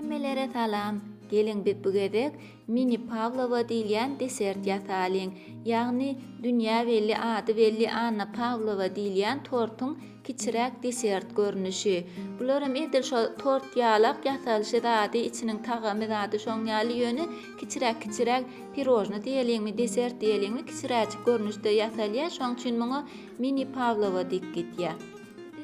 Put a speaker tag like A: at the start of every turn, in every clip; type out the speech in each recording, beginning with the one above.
A: Hemmelere salam! Geliň biz bu gezek mini pawlowa diýilýän desert ýasalyň. Ýagny dünýä belli ady belli Anna Pawlowa diýilýän tortuň kiçiräk desert görnüşi. Bularam edil şo tort ýalak ýasalyşy zady içiniň tagamy zady şoň ýaly ýöne kiçiräk kiçiräk pirojny diýeliňmi desert diýeliňmi kiçiräjik görnüşde ýasalýa şoň üçin muňa mini pawlowa diýip gitýä.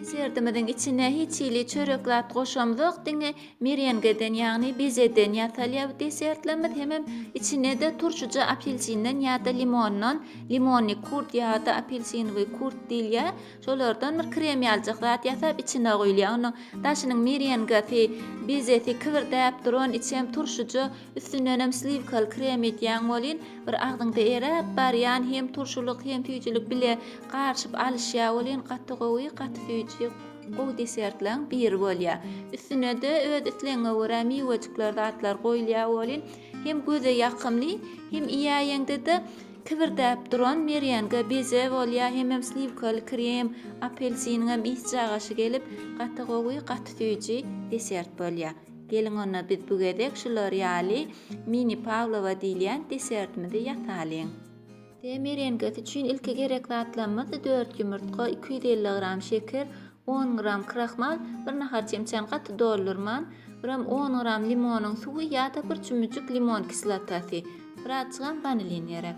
A: Desertimiziň içine hiç hili çörek zat goşamzok, diňe merengeden, ýagny bezeden ýasalýar bu desertlerimiz. Hemem içine-de turşuja apelsinden ýa-da limondan, limonnyý kurt ýa-da apelsinowyý kurt diýilýär, şolardan bir krem ýalyjak zat ýasap içine guýulýar. Onuň daşynyň merengesi, bezesi kibirdäp duran, içem turşuja. Üstündenem sliwkaly krem edýäň welin, bir agzyňda eräp barýan hem turşulyk hem süýjülik bile garyşyp alyşýar welin gaty gowy, gaty süýji gowy desertlaň biri bolýar. Üstünede öz islegiňe görä miwejikler zatlar goýulýar welin hem göze ýakymly hem iýäýeňdede kibirdäp duran merenge beze bolýar hemem sliwkaly krem, apelsiniňem ysy jagaşy gelip gaty gowy, gaty süýji desert bolýar. Geliň onda biz bu gezek şular ýaly mini pawlowa diýilýän desertimizi ýasalyň. Te merenkesi üçin ilki gerek zatlarymyz dört ýumurtga, iki ýüz elli gram şeker, on gram krahmal, bir nahar çemçäni gaty doldurman, biram on gram limonyň suwy ýa-da bir çümmüjik limon kislotasy, birazjygam wanilin gerek.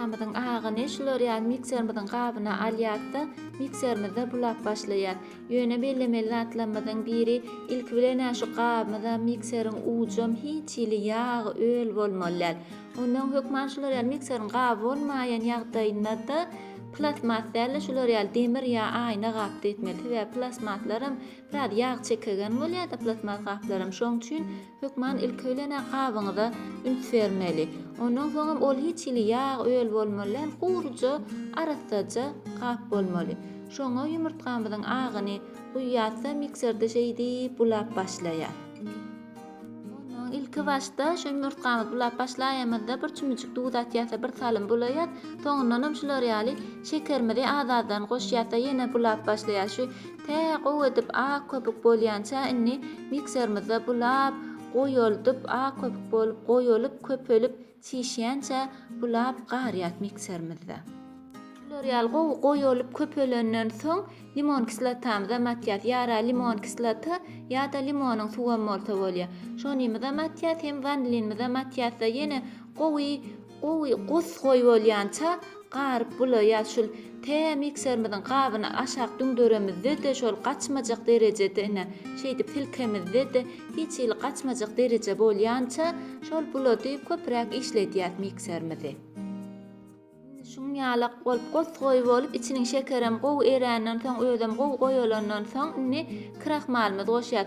A: Ýumurtgamyzyň agyny şular ýaly mikserimiziň gabyna alýas-da, mikserimizde bulap başlaýas. Ýöne bellemeli zatlarymyzyň biri, ilki bilen-ä şu gabymyzam, mikseriň ujam hiç hili ýag, öl bolmaly däl. Onnoň hökman şular ýaly mikseriň gaby bolmaýan ýagdaýynda-da plastmas däl-de, şular ýaly demir ýa aýna gapda etmeli. Sebäbi plastmaslaram biraz ýag çekegen bolýar-da, plastmas gaplaram. Şoň üçin Hökman ilkibilene gabyňyza üns bermeli. Ondan soňam ol hiç hili ýag, öl bolmaly däl, guryja, arassaja gap bolmaly. Şoňa ýumurtgamyzyň agyny guýýarys-da, mikserde şeýdip bulap başlaýarys. Ondan ilki başda şu ýumurtgamyzy bulap başlaýanymyzda bir çümüjik duz atýarys-da, bir salym bulaýarys. Soňundanam şular ýaly şekerimizi az-azdan goşýarys-da, ýene bulap başlaýarys. Tä gowy edip ak köpük bolýança indi mikserimizde bulap, goýaldyp, ak köpük bolup, goýalyp, köpelip, çişýänçä bulap garýas mikserimizde. Bular ýaly gowy goýalyp, köpelenden soň limon kislotamyzam atýas. Ýara limon kislota ýa-da limonyň suwam bolsa bolýar. Şonymyzam atýas, hem wanilinimizem atýas-da, ýene gowy Gowy gosgoý bolýança garyp bula ýa şul tä mikserimiziň gabyny aşak düňderemizde-de şol gaçmajak derejede ine şeýdip silkemizde-de hiç hili gaçmajak dereje bolýança şol bulady köpräk işledýäs mikserimizi. Indi şuň ýalak bolup gosgoý bolup içiniň şekerem gowy eränden soň özem gowy goýalandan soň indi krahmalymyzy goşýas.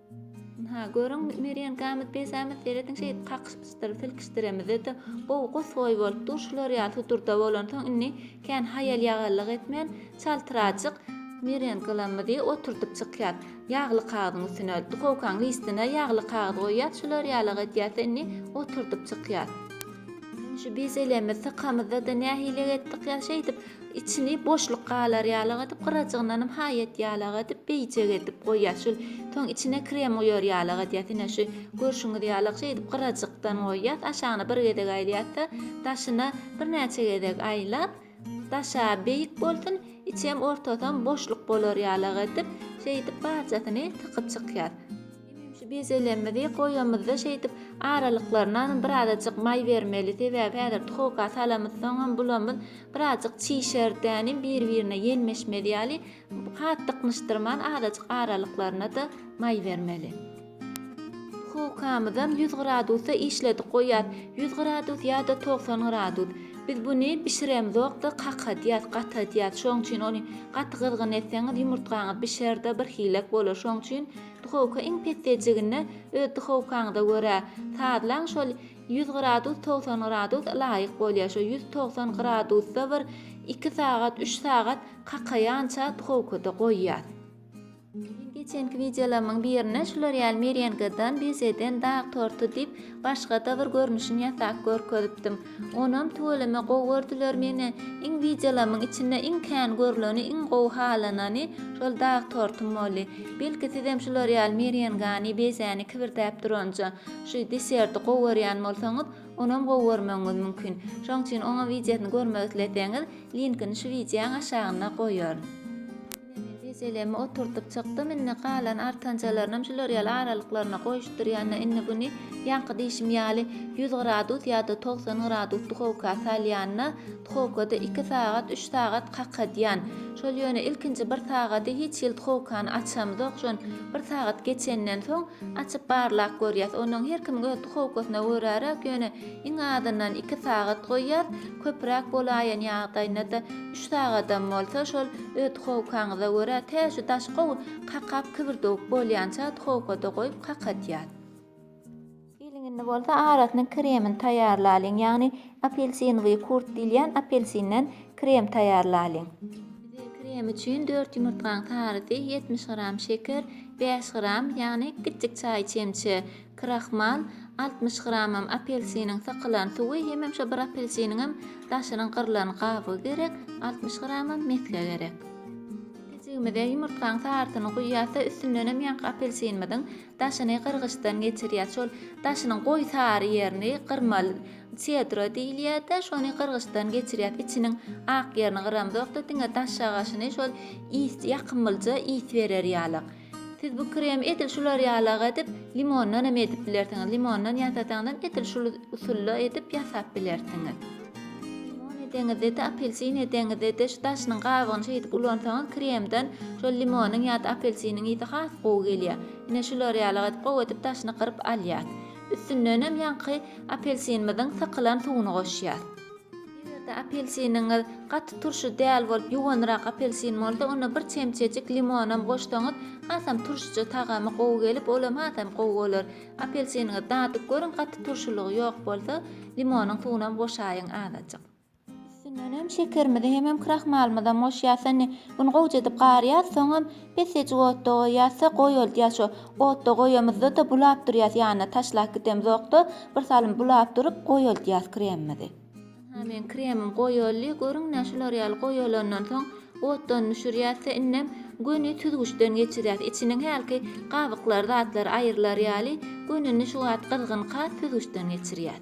A: Ynha, görüň, Mergen gamyt besamyt serediň şeýdip kakyşypsydyr, silkişdiremizede gowy gosgoý bolup dur, şular ýaly sudurda bolansoň indi kän haýal-ýagallyk etmän, çaltrajyk Mergen gylamyzy oturdyp çykýas. Ýagly kagyzyň üstüne, duhowkaň listine ýagly kagyz goýýas, şular ýalyk edýäs-de indi oturdyp çykýas. Şu bezelemiz, sykamyzda-da nähililik etdik ýa şeýdip, Içini boşluk galar ýalak edip, gyrajygyndanam haýat ýalak edip, beýjek edip goýýar. Şul soň içine krem guýar ýalak edýär. Ine şu görşüňiz ýalak şeýdip gyrajykdan goýýas. Aşagyna bir gezek aýlaýas-da, daşyna birnäçe gezek aýlap, daşa beýik bolsun, içem ortasam boşluk bolar ýalak edip, şeýdip barjasyny tykyp çykýas. Şu bezelemmizi goýamyzda şeýdip aralyklarynam birazajyk maý bermeli sebäbi häzir tuhoka salamyzsoňam bulamyz birazajyk çişerdäni bir birine ýelmeşmez ýaly hat dyknyşdyrman azajyk aralyklarynada maý bermeli. Tuhokamyzam ýüz gradusda işledik goýýas ýüz gradus ýada togsan gradus biz buny bişiremzokda kakadýas gatadýas şoň üçin ony gaty gyzgyn etseňiz ýumurtgaňyz bişerde bir hilek bolar şoň üçin Duhowka iň pesdejigine öz duhowkaňyza görä sazlaň şol ýüz gradus togsan gradus laýyk bolýar şo ýüz togsan gradusda bir iki sagat üç sagat kakaýança duhowkada goýýas. Men geçenki wideolarymyň birine şular ýaly merengadan, bezeden dag torty diýip başgada bir görnüşini ýasap görkezipdim. Onam tüweleme gowy gördüler meni. Iň wideolamyň içinde iň kän görleni, iň gowy halanany şol dag tortum boldy. Belki sizem şular ýaly merengany, bezäni kibirdäp duranja, şu deserti gowy görýän bolsaňyz, onam gowy görmegiňiz mümkin. Şoň üçin oňam wideosyny görmek isleseňiz, linkini şu wideoň aşagynda goýaryn. Ine men jejelemi oturdyp çykdym, indi galan artanjalarynyam şular ýaly aralyklaryna goýuşdyrýan-da, indi buny ýaňky diýşim ýaly ýüz gradus ýa-da togsan gradus duhowka salýan-da, duhowkada iki sagat, üç sagat kakadýan. Şol ýöne ilkinji bir sagady hiç hili duhowkany açamzok, şon bir sagat geçenden soň açyp barlap görýäs. Onuň her kimiň öz duhowkasyna göräräk, ýöne Iň azyndan iki sagat goýýar, köpräk bolaýan ýagdaýynda-da üç sagadam bolsa şol öz duhowkaňyza görä tä şu daş gowy kakap kibrdewük bolýança duhowkada goýup kakatýar. Geliň indi bolsa arasynyň kremini taýýarlalyň, ýagny apelsinowý kurt diýilýän apelsinden krem taýýarlalyň. Bize krem üçin dört ýumurtgaň sarysy, ýetmiş gram şeker, bäş gram, ýagny kiçjik çaý çemçe, Krahmal, altmyş gramam apelsiniň sykylan suwy, hemem şo bir apelsiniňem daşynyň gyrlan gabygy gerek, altmyş gramam mesge gerek. Pejigimize ýumurtgaň sarysyny guýýas da üstündenem ýaňky apelsinimiziň daşyny gyrgyçdan geçirýäs. Şol daşynyň goýy sary ýerini gyrmaly. Sedro diýilýärde, şony gyrgyçdan geçirýäs. Içiniň ak ýerini gyramzok-da, diňe daş şagaşyny şol ýakymlyja ys berer ýalyk. Siz bu kremi edil şular ýalak edip, limondan hem edip bilersiňiz. Limondan ýasasaňyzam edil şul usulda edip ýasap bilersiňiz. Limon edeňizde-de, apelsin edeňizde-de şu daşynyň gabygyny şeýdip ulansaňyz kremden şol limonyň ýa-da apelsiniň ysy has gowy gelýär. Ine şular ýalak edip gowy edip daşyny gyryp alýas. Üstündenem ýaňky apelsinimiziň sykylan suwuny goşýas. Eger-de apelsiniňiz gaty turşy däl bolup, ýuwanrak apelsin bolsa, onda bir çemçejik limonam goşsaňyz, hasam turşyja tagamy gowy gelip, olam hasam gowy bolar. Apelsiniňizi dadyp görüň, gaty turşulygy ýok bolsa, limonyň suwunam goşaýyň azajyk. Üstünden hem şekerimizi hemem krahmalymyzam goşýas. Indi güni gowja edip garýar, soňam Biz sejik otda goýýasda goý ol diýýär şo otda goýamyzda-da bulap durýas ýanyna taşlap gidemzokda bir salym bulap durup goý ol diýýas kremimizi. Aha meň kremim goý oldy görüňdä şular ýaly goý olandan soň otdan düşürýäsde indem göni süzgüçden geçirýäs içiniň hälki gabyklary zatlary aýrylar ýaly gönüni şu wagt gyzgynka süzgüçden geçirýäs.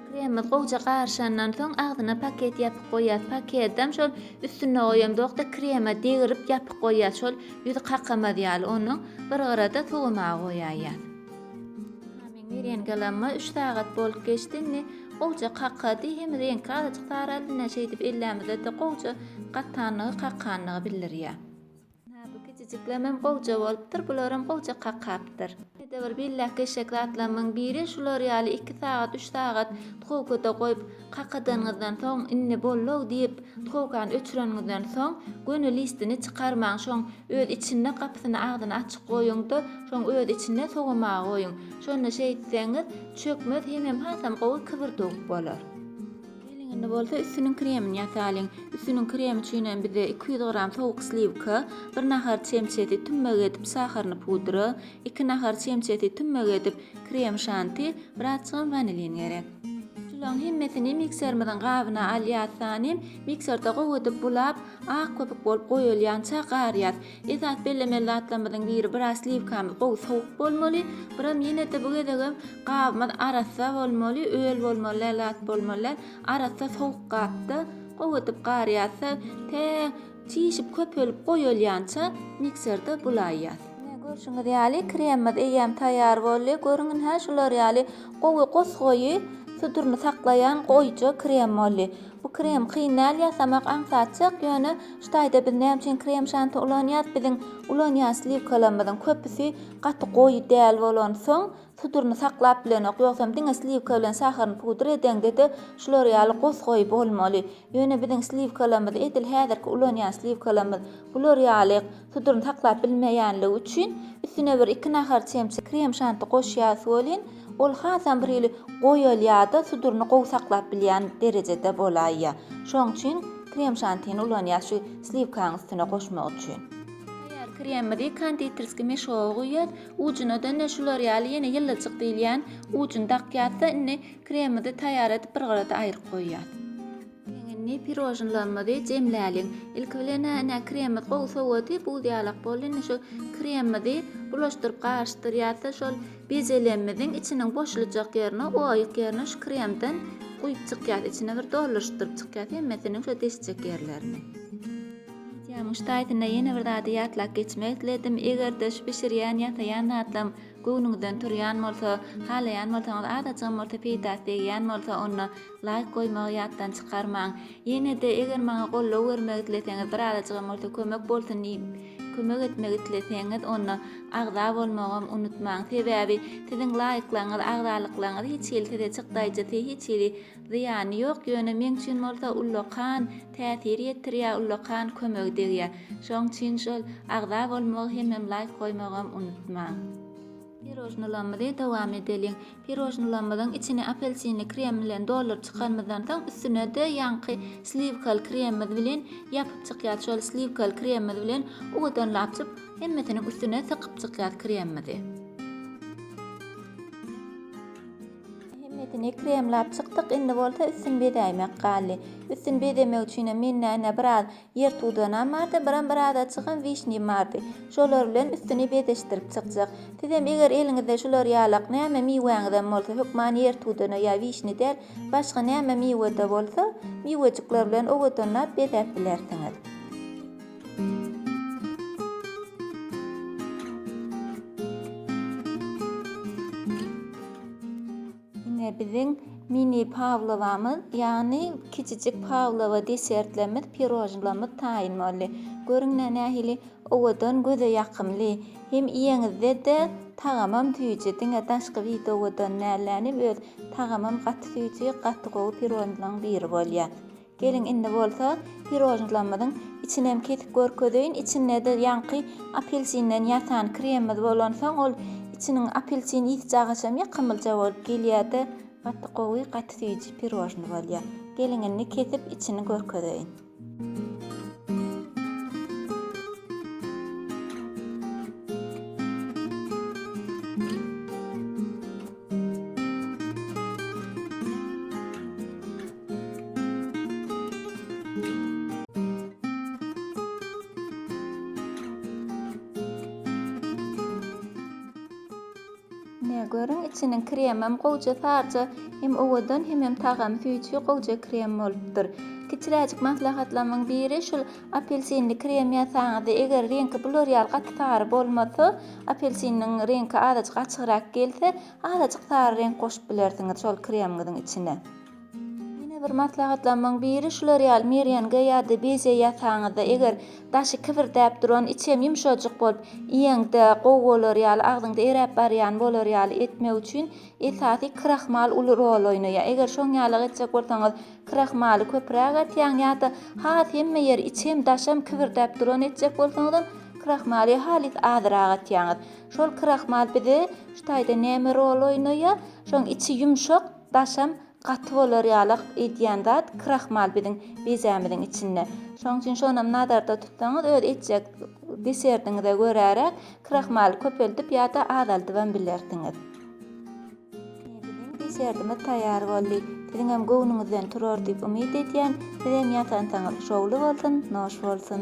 A: Kremimiz gowja garyşandan soň agzyna paket ýapyp goýýas. Pakedem şol üstünde goýamzok-da kreme degirip ýapyp goýýas. Şol ýüzi kakamaz ýaly. Onuň bir gyra-da sowamaga goýaýýas. Mamiň berýän galamyma üç sagat bolup geçdi. Indi gowja kakady. Hem reňki azajyk saraldy. Näçe edip ellämizde-de gowja gatanlygy, kakanlygy bildirýär. Hä bu kijijiklemem gowja bolupdyr bularam gowja kakapdyr. Ede bir billäk eşek zatlamyň biri şular ýaly iki sagat üç sagat tgowkada goýup kakadanyňyzdan soň indi bollow diýip tgowkany öçüreniňizden soň göni listini çykarmaň şoň öz içinde gapysyny agzyny açyk goýuňda şoň öz içinde sowamaga goýuň şonda şeýtseňiz çökmez hemem hasam gowy kybyrdyk bolar. Gelinini bolsa üstüniň kremini ýasalyň. Üstüniň kremi üçin hem bize iki ýüz gram sowuk sliwka, bir nahar çemçesi tümmek edip saharyny pudra, iki nahar çemçesi tümmek edip krem şanti, birazjygam wanilin gerek. Şulaň hemmesini mikserimiziň gabyna alýas, sanem mikserde gowy edip bulap, ak köpük bolup goýulýança garýas. Esas bellemeli zatlarymyzyň biri biraz sliwkamyz gowy sowuk bolmaly. Biram ýene-de bu gezegem gabymyz arassa bolmaly, öl bolmaly däl zat bolmaly däl. Arassa sowuk gapda gowy edip garýarsa, tä çişip köpelip goýulýança mikserde bulaýýas. Görşüňiz ýaly, kremimiz eýýäm taýýar boldy. Görüň indi-hä, şular ýaly gowy gosgaýy, suduryny saklaýan goýja krem boldy. Bu krem kyn däl ýasamak aňsatjak ýöne ştaýda biz näme üçin krem şanti ulanýas biziň ulanýan sliwkalarymyzyň köpüsi gaty goýy däl bolansoň suduryny saklap bilenok ýogsam diňe sliwka bilen saharyny pudr edeňdede şular ýaly gos goýy bolmaly ýöne biziň sliwkalarymyz edil häzirki ulanýan sliwkalarymyz bular ýaly Puduryny saklap bilmeýänligi üçin üstüne bir iki nahar çemçe krem şanti goşýas welin, ol hasam bir hili goýalýada suduryny gowy saklap bilýän derejede bolaýýa. Şoň üçin krem şantini ulanýas şu sliwkanyň üstüne goşmak üçin. Taýýar kremimizi konditerskiý meşoga guýýas, ujuna dönä şular ýaly ýene ýylyjyk diýilýän ujuny dakýasda indi kremimizi taýýar edip bir gyrada aýryp goýýas. Indi pirožnlarymyzy jemläliň. Ilki bilen ine kremimiz gowy sowady, buz ýalak boldy. Indi şu kremimizi bulaşdyryp garyşdyrýas we şol bezelemimiziň içiniň boşlujak ýerine, oýuk ýerine şu kremden guýup çykýas. Içine bir dolduryşdyryp çykýas hemmesiniň şo desjek ýerlerini. Wideomyň şu taýtynda ýene bir zady ýatlap geçmek isledim. Eger-de şu bişirýän, ýasaýan zatlaryň göwnüňizden turýan bolsa, halaýan bolsaňyz, azajygam bolsa peýdasy degýän bolsa, onda Laýk goýmagy ýatdan çykarmaň. Ýenede eger maňa goldaw bermek isleseňiz birazajygam bolsa kömek bolsun diýip kömek etmek isleseňiz onda agza bolmagam unutmaň sebäbi siziň laýklaryňyz agzalyklaryňyz hiç hili size çykdaýjysy hiç hili zyýany ýok ýöne meň üçin bolsa ullakan täsir ýetirýä ullakan kömegi degýä şoň üçin şol agza bolmagy hemem laýk goýmagam unutmaň. Pirojnylarymyzy dowam edeliň. Pirojnylarymyzyň içini apelsinli krem bilen dolduryp çykanymyzdan soň, üstüne-de ýaňky sliwkaly kremimiz bilen ýapyp çykýas. Şol sliwkaly kremimiz bilen owadan lapjyp, hemmesiniň üstüne sykyp çykýas kremimizi. Hemmesini kremläp çykdyk, indi bolsa üstüni bezäýmek galdy. Üstüni bezemek üçinem men näne biraz Ýertudanam bardy, biram bir ada çykan wişnim bardy. Şolar bilen üstüni bezeşdirip çykjak. Sizem eger eliňizde şular ýalak näme miwäňizem bolsa, hökman ýertudana ýa wişni däl, başga näme miwe-de bolsa, miwejikler bilen owadanlap bezäp bilersiňiz. Ine biziň mini Pawlowamyz, ýagny kiçijik Pawlowa desertlerimiz, pirožnlomyz taýyn boldy. Görüň nä nähili owadan, göze ýakymly. Hem iýeňizde-de tagamam süýji, diňe daşky bit owadan dälläni, öz tagamam gaty süýji, gaty gowy pirožnlaň biri bolýar. Geliň indi bolsa pirožnlamyzyň içinem kesip görkezeýin, içinde-de ýaňky apelsinden ýasan kremimiz bolansoň ol içiniň apelsin ýiti jagaşam ýakymlyja bolup gelýärde gaty gowy gaty süýji pirožny bolýar. Geliň indi kesip içini görkezeýin. görüň içiniň kremem gowja sarja hem owadan hemem tagamy süýji gowja krem bolupdyr kiçiräjik maslahatlamyň biri şul apelsinli krem ýasaňyzda eger reňki bular ýaly gaty sary bolmasa apelsiniň reňki azajyk açygrak gelse azajyk sary reňk goşup bilersiňiz şol kremiňiziň içine Ýene bir maslahatlamyň biri şular ýaly merýengi ýa-da beje ýasaňyzda, eger daşy kibirdäp duran, içi hem ýumşajyk bolup, iýeňde gowy bolar ýaly, agzyňda eräp barýan bolar ýaly etmek üçin esasy krahmal uly rol oýnaýar. Eger şoň ýalyk etjek bolsaňyz, krahmaly köpräk atýaň ýa-da has hemme ýeri içem, daşam kibirdäp duran etjek bolsaňyzam, krahmaly halys azyrak atýaňyz. Şol krahmal bize şu taýda näme rol oýnaýar? Şoň içi ýumşak. Daşam gaty bolar ýalak edýän zat krahmal biziň bezämiziň içinde. Şonuň üçin şonam nazarda tutsaňyz öz etjek desertiňize göräräk krahmaly köpeldip ýa-da azaldybam bilersiňiz. Ine biziň desertimiz taýýar boldy. Siziňem göwnüňizden turar diýip umyt edýän. Sizem ýasansaňyz şowly bolsun, noş bolsun!